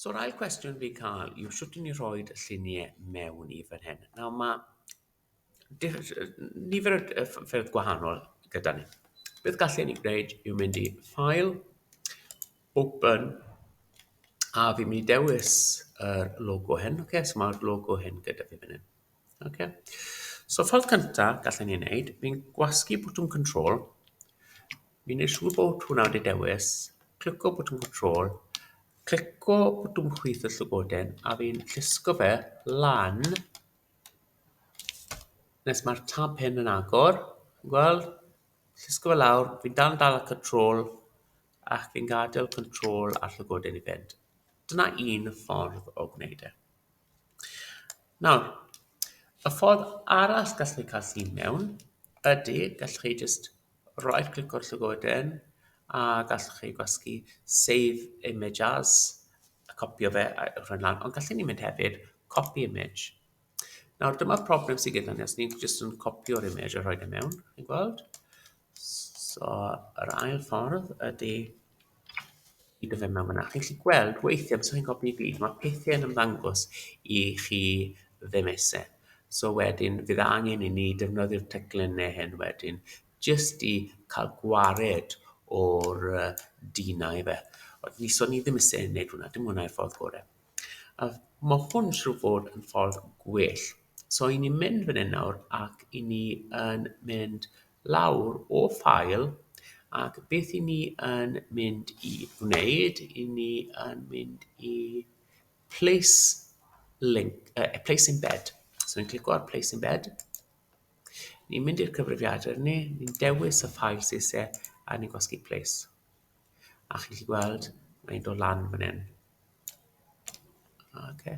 So'r ail cwestiwn fi'n cael yw shwt i ni rhoi y lluniau mewn i fan hyn. Nawr ma' nifer o ffyrdd gwahanol gyda ni. Beth gallen ni gwneud yw mynd i File, Open, a fi'n mynd i dewis yr logo hyn. Ocê, so mae'r logo hyn gyda fi fan hyn. Ok. So ffordd cyntaf gallen ni wneud, fi'n gwasgu botwm control, fi'n neud siŵr bod hwnna wedi dewis, clico botwm control, clico botwm chwith y llygoden, a fi'n llusgo fe lan nes mae'r tab hyn yn agor, chi'n gweld? Llusgo fe lawr, fi'n dal yn dal y control, ac fi'n gadael control a'r llygoden i fynd. Dyna un ffordd o gwneud e. Nawr, y ffordd arall gallu chi cael llun mewn ydy, gallu chi jyst roi clic o'r llygoden a gallu chi gwasgu save image as, a copio fe a rhoi lan, ond gallu ni mynd hefyd copy image. Nawr dyma'r problem sydd gyda ni os ni'n jyst yn copio'r image a rhoi fe mewn, chi'n gweld? So yr ail ffordd ydy i dy fe mewn fyna. Chi'n gallu gweld weithiau, os chi'n copi i gyd, mae pethau yn ymddangos i chi ddim eisiau. So wedyn, fydd angen i ni defnyddio'r teclyn neu hyn wedyn, jyst i cael gwared o'r yy dinau fe. Ond ni, so ni ddim eisiau wneud hwnna, dim hwnna yw'r ffordd gorau. A ma' hwn siŵr o fod yn ffordd gwell. So i ni'n mynd fan hyn nawr ac i ni yn mynd lawr o ffael ac beth i ni yn mynd i wneud, i ni yn mynd i place link, uh, place in bed. So ni'n clicio ar place in bed. Ni'n mynd i'r cyfrifiadur ni, ni'n dewis y ffael sydd isie a ni'n gwasgu place. A chi'n gallu gweld, mae'n dod lan fan hyn. Okay.